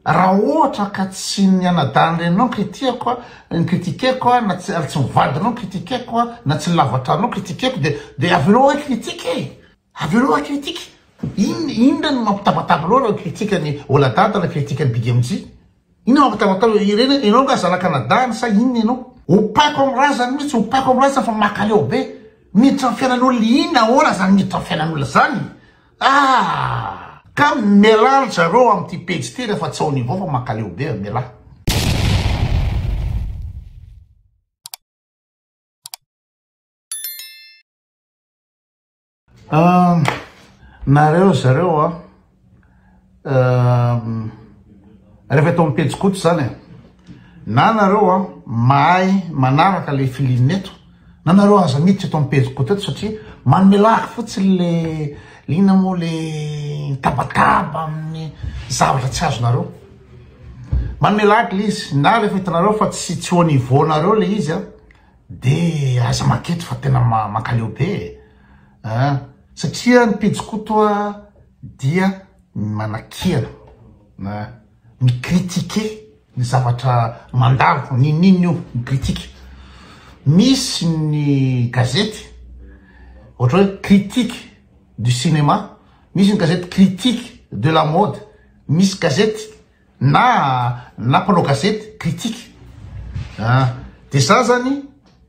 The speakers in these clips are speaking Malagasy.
Raha ohatra ka tsy ny anadahin-dreninao no kitiako a, no critique-ko a, na tsy ary tsy ny vadinao no critique-ko a, na tsy ny lava-tranonao no critique-ko dia, dia avelao ahy critique e! Avelao ahy critique! In, inona no mampitabataba anao raha critique an'i Oladada na critique an'i Big MJ? Inona mampitabataba anao? Ireny, ianao nga zanaka anadahiny sa inona ianao? Opaiko amin'ny razany mihitsy, opaiko amin'ny razany fa makaleo be! Miditra amin'ny fiainan'olona, inona, ahoana zany miditra amin'ny fiainan'olona zany? Aah! Ka mialà ry zareo amin'ity pejy ity rehefa tsy ao niveau fa mankaleo be a! Mialà. Aah! Nareo ry zareo a! Rehefa eto amin'ny pejy koto izany e, na nareo a mahay manaraka ilay filiana eto, na nareo aza miditra eto amin'ny pejy koto eto satria manome lahy fotsiny le lina moa le tabataba amin'ny zavatra tsy azonareo. Manome lahy le izy, na rehefa hitanareo fa tsy tsy au niveau nareo le izy a, de aza maketo fa tena mankaleo be e, satria ny pejy koto a. dia ny manakiana na mi critiquer ny zavatra mandalo n'inon'inona io mi critique misy ny gazety ohatra hoe critique du cinéma misy ny gazety critique de la mode misy gazety na na mpanao gazety critique an de za zany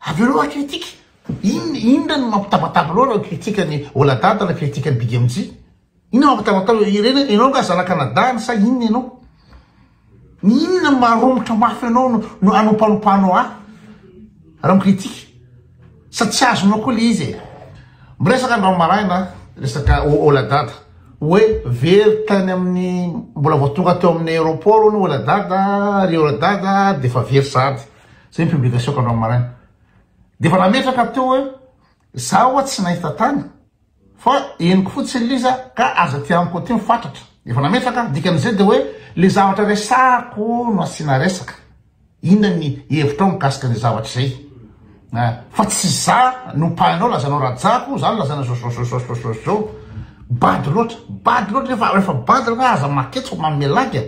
Avereo raha critique, inona inona no mampitabataba loatra ny critique an'i Oladada na critique an'i Big MJ? Inona no mampitabataba, ireny ianao nga zana Canada any sa inona ianao? Inona no maharomotra mafy anao no no anompanopanao ahy raha mi-critique? Sa tsy azonao koa le izy e? Miresaka androany maraina resaka O- Oladada hoe very tany amin'ny mbola vao tonga teo amin'ny aéroport hono Oladada, ry Oladada de efa very sahady. Zay ny publication-ko androany maraina. Dia efa nametraka teo hoe za ho'a tsy nahita tany fa henoko fotsiny ilay izy a! ka aza aty amiko aty ny fatratra. Efa nametraka a! Dikan'izay dia hoe ilay zavatra resahako no asiana resaka. Inona ny hevitrao mikasika an'izay zavatra izay a! fa tsy za no mpahaino lazanao rajako, za no lazaina zôzôzôzôzôzôzô. Bado loatra, bado loatra, rehefa bado rehefa aza maketsy fa manome lagy a!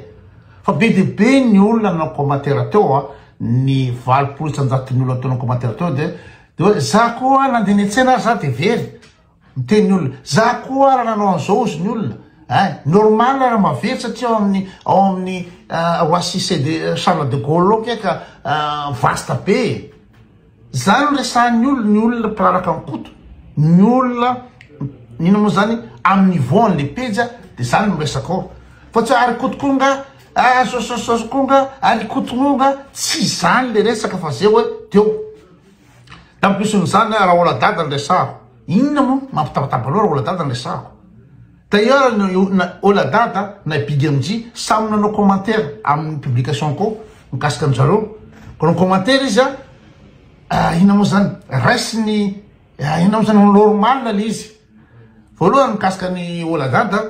Fa be dia be ny olona nanao commentaire teo a, ny valopolo isan-jaton'ny olona teo nanao commentaire teo dia dia hoe za koa nandeha niantsena ary za dia very, miteny ny olona, za koa ary nanao an'izao hozy ny olona, ein! normal raha mahavery satria ao amin'ny ao amin'ny Roissy CEDE Charles de Gaulle ao nge ka vaste be e! Zany no resahan'ny olona, ny olona mpilalaka an'i Koto, ny olona inona moa zany amin'ny niveau an'le pejy a, de zany no resaka ao, fa tsy hoe ary Koto koa nga ah, sosososososy koa nga, ary Koto moa nga, tsy zany le resaka fa ze hoe teo. Tampison'izany Raholdadada no resahako, inona moa mampitabataba anao Raholdadada no resahako? D'ailleurs ny na Oladada na i Big MJ samy nanao commentaire amin'ny publication-ko mikasika an-dry zareo. Koa ni-commentaire izy an, ah, inona moa zany? Raisiny, ah, inona moa zany? Normal le izy. Voalohany mikasika ny Oladada,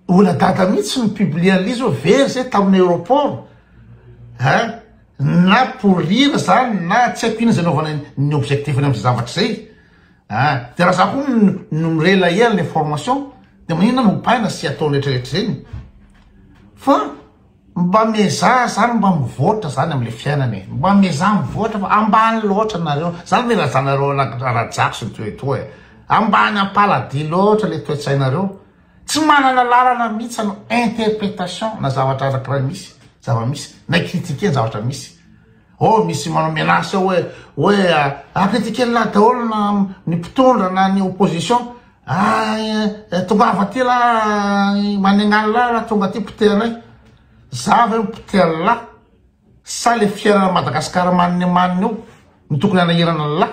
Oladada mihitsy ny publier an'ilay izy hoe very zay tamin'ny aéroport. Hein? Na pour rire zany na tsy haiko inona zay naovana ny objectif-ny amin'izay zavatra izay. Ah de raha za ko no mi-relayer anle information de maninona no baina sy ataony retraretra zeny fa mba miezaha zany mba mivoatra zany amle fiainana e mba miezaha mivoatra fa ambany loatra nareo zany le razanareo rajako sy ny toetoa e ambany ampaladia loatra le toetsainareo tsy manana lalana mihitsy anao interpretation na zavatra arakiray misy zava-misy na critique ny zavatra misy Oh misy manao menace hoe hoe ah critiquer an'lah daholo na ny mpitondra na ny opposition ah tongava aty lah manenga an'lah raha tonga aty poteha anay za ve mipoteha an'lah sa le fiainana Madagascar maniny maniny eo no tokony hanahirana an'lah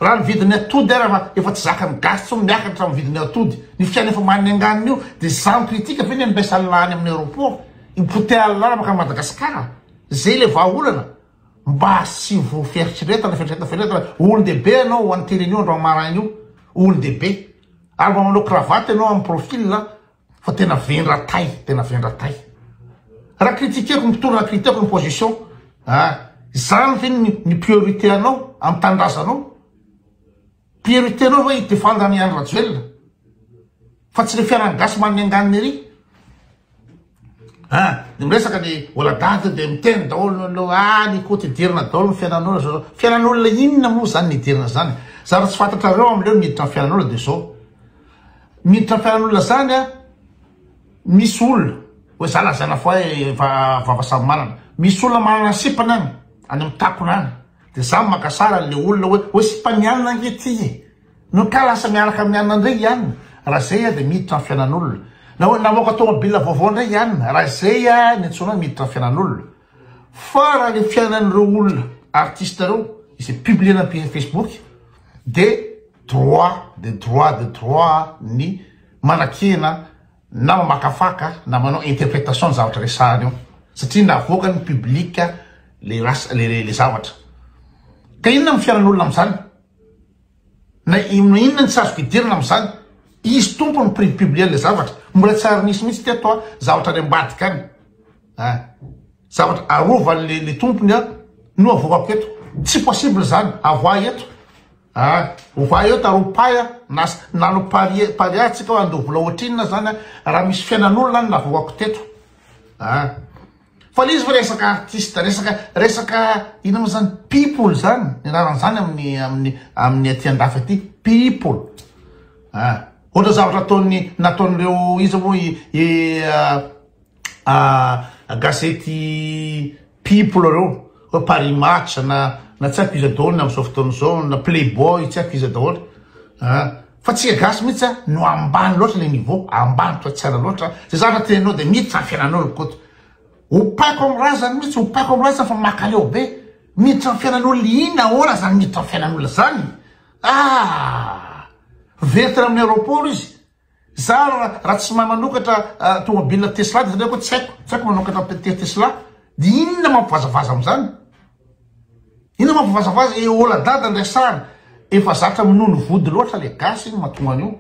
Raha ny vidin'ny atody ary fa efa tsy zakan'ny gasy tsony miakatra amin'ny vidin'ny atody, ny fiaina efa manenganina io dia za mikritika ve ny ambesa Allah any amin'ny aeroport, ipoteha Allah makany Madagascar, zay ilay vahaolana, mba asivo fieritreretana, fieritreretana, fieritreretana, olondehibe ianao ho an'ny tele anio androany maraina io, olondehibe, ary mba manao cravate ianao amin'ny profil Fa tena vendra tay, tena vendra tay. Raha critiqueko ny mpitondra, critiqueko ny position, ah, izany ve ny, ny priorité anao amin'ny tanindrazanao? Priorité anao ve hidefendre an'i Andry Rajoelina? Fa tsy le fiaran'ny gasy manome anganiny ery? Ah, ny miresaka ny oladady dia miteny daholo ny loha, ah, ny koty hidirina daholo ny fiainan'olona, fiainan'olona inona moa izany ny hidirina izany? Zara tsy fantatrareo amin'ireo niditra ny fiainan'olona dia izao. Miditra fiaran'olona zany a misy olona oe za lazaina fa oe efa vava samy manana misy olona manana sipany any any am takona any de za maka sary anle olona oe oe sipan'i anona ange ty e no ka lasa miaraka amin'i anona ndray i anona ra zay a de miditra am fiainan'olona na oe namoaka tomobil vaovao ndray i anona ra zay a ny antsoina oe miditra am fiainan'olona Fa raha le fiainan'ireo olona artiste ireo izay publiena am pejy facebook de droit de droit de droit ny manakena na mamakafaka na manao interpretation ny zavatra resahany eo satria navoakan'ny public le lasa le zavatra ka inona ny fiainan'olona am'zany? Na inona inona ny tsy azo fidirana amin'izany. Izy Tompo no prix publien'ilay zavatra. Mbola tsy ary nisy mihitsy teto an, zavatra any ambadika any. Ah. Zavatra arovan'ilay ilay Tompony an, no avoako eto. Tsy possible izany, avoahy eto. Ah. Ovahy eto ary opahy an, na nanao parie, paria tsika hoe andoha vola ohatrinona izany an, raha misy fiainan'olona any navoako teto. Ah. Fa le izy fa resaka artiste, resaka resaka ina mo zany people zany ny anarany zany amin'ny amin'ny amin'ny aty andafy aty people ah ohatra zavatra ataon'ny nataon'ireo iza moa i i gazety people reo hoe paris match na na tsy haiko iza daholo ny amin'izao fotoana izao na playboy tsy haiko iza daholo ah Fa tsika gasy mihitsy a no ambany loatra le niveau, ambany toa tsara loatra, ze zavatra teneninao de miditra am fiainanao ry koto. Ompako am razany mihitsy, ompako am razany fa makaleo be, miditra am fiainan'olona inn ahoana zany miditra am fiainan'olona zany aah! Very tany aminy aeroport izy, za ra tsy mahay manokatra tomobile tesla de zany hoe ko tsy haiko, tsy haiko manokatra tesla de inona mampivazavaza amzany, Ino ma vavazavaza e ola dada ndray sary efa zatra minono vody loatra le gasy iny matonga anio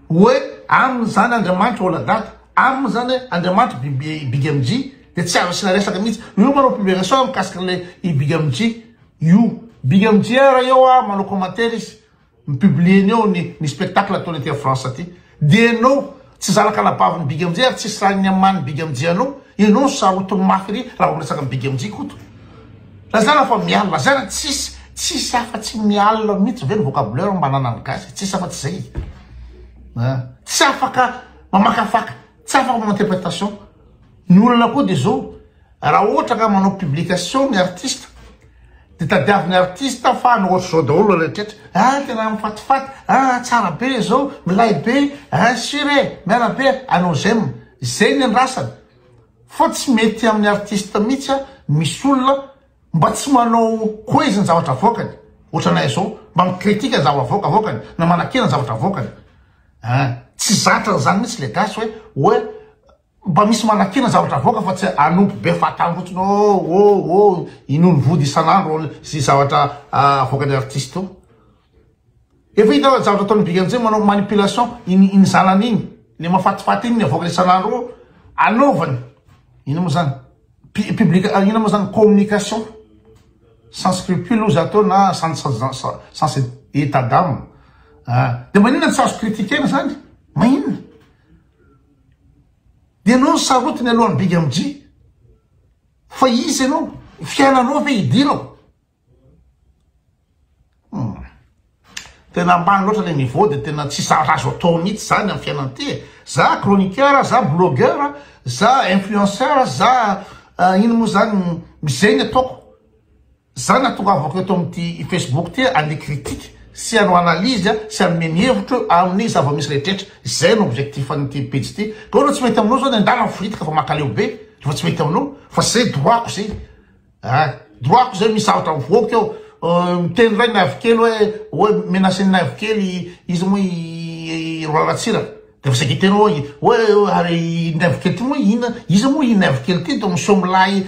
oe aminy zany andriamanitra ola dada aminy zany andriamanitra biby big mg de tsy azo asina resaka mitsy io manao publication mikasika le i big mg io big mg ara eo a manao commentaire izy mi-publier ny eo ny ny spectacle ataony aty a France aty de enao tsy zanaka anabavin'i Big MJ ary tsisy raha niaman'i Big MJ anao enao no sarotiny mafy ery raha vao miresaka an'i Big MJ Koto lazaina fa miala lazaina tsisy tsisy afa tsy miala mihitsy ve ny vocabulaire mba ananan'ny gasy tsisy afa tsy zay a tsy afaka mamakafaka tsy afaka manao interprétation Ny olana koa dia zao, raha ohatra ka manao publication ny artiste dia tadiavin'ny artiste fa any ohatr'izao daholo ny rehetra, ah tena mifatifaty, ah tsara be izao, milay be, ah sur e, miala be e, ah nos j'aime, izay ny andrasana, fa tsy mety amin'ny artiste mihitsy an, misy olona mba tsy manao coise ny zavatra avoakany, ohatranay zao mba mi-critique ny zavatra avoakany na manakena ny zavatra avoakany, ah tsy zatra an'izany mihitsy le gasy hoe hoe Mba misy manakina zavatra avoaka fa tsy hanompo be fatany fotsiny oh oh oh inoany vody isan'andro sy zavatra avoakan'ny artiste oh. Efa hita fa zavatra ataon'i Big Anzé manao manipulation iny iny zanany iny le mafatifaty iny ny avoakany isan'andro oh anaovany ina moa zany public ina moa zany communication sans scrupule ozy atao na sans sans état d'âme ah de maninona tsy azo critiquer-na zany maninona. Ianao ny sarotiny aloha ny big MJ fa izy ianao fiainanao ve idirao? Hum. Tena ambany loatra le niveau de tena tsy zavatra azo atao mihitsy zany amin'ny fiainana ty e. Za chroniqueur, za blogueur, za influenceur, za uh, ino moa zany, izay ny ataoko. Za natongavako eto amin'ity Facebook ty hande critique sy hanao analyse sy hanome ny hevitro amin'ny zava-misy rehetrretra. Izay no objectif an'ity pejy ity. Ka oe raha tsy mety aminao zao ny andahy raha foritika fa makaleo be rehefa tsy mety aminao fa zay droit-ko zay ah droit-ko zay misy zavatra mivoaka eo miteny ray naivo kely oe oe menace ny naivo kely izy moa i Roa Ratsiraka Dia vao saika telo eo hoe ary i Naivo kely ity moa inona? Iza moa i Naivo kely ity? Dia miseho milay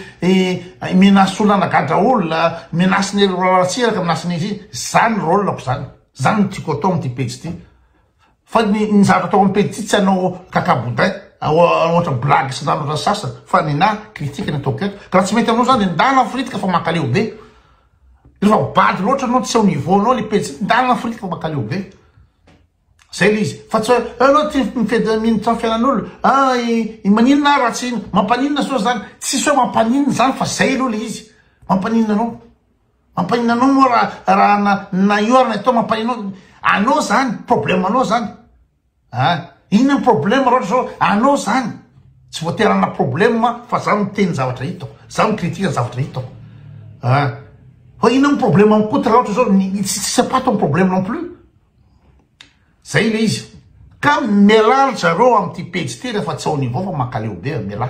menace olona hanagadra olona, menace ny ratsiraka, menace ny ity. Izany rôle-ko izany. Izany no tiako atao amin'ity pejy ity. Fa ny ny zavatra atao amin'ny pejy ity tsy hanao kaka boudin ohatra blague sy ny sasany ohatran'ny sasany fa nenaha critique no ataoko eto. Ka raha tsy mety aminao izany dia ndana afiritika fa mankaleo be. Rehefa bado loatra ianao tsy eo niveau-nao ilay pejy ity ndana afiritika fa mankaleo be. Zay le izy. Fa tsy hoe eo aloha ty mifetra minitra ny fiainan'olo. Ah i maninona ah raha tsy iny. Mampaninona soa zany. Tsisy hoe mampaninona zany fa zay aloha le izy. Mampaninona anao. Mampaninona anao moa raha raha na na io ary na ito mampaninona anao. Anao zany. Problème anao zany. Ah inona ny problème raha ohatra zao anao zany. Tsy voatery hanana problème ah fa za miteny zavatra hitako. Za mi-critique ny zavatra hitako. Ah fa inona ny problème amin'i Koto raha ohatra zao ny ny tsisy tsisy am-paty ny problème non plus. Zay ilay izy. Ka mialà ry zareo amin'ity pejy ity rehefa tsy ao niveau fa mankaleo be a! Mialà.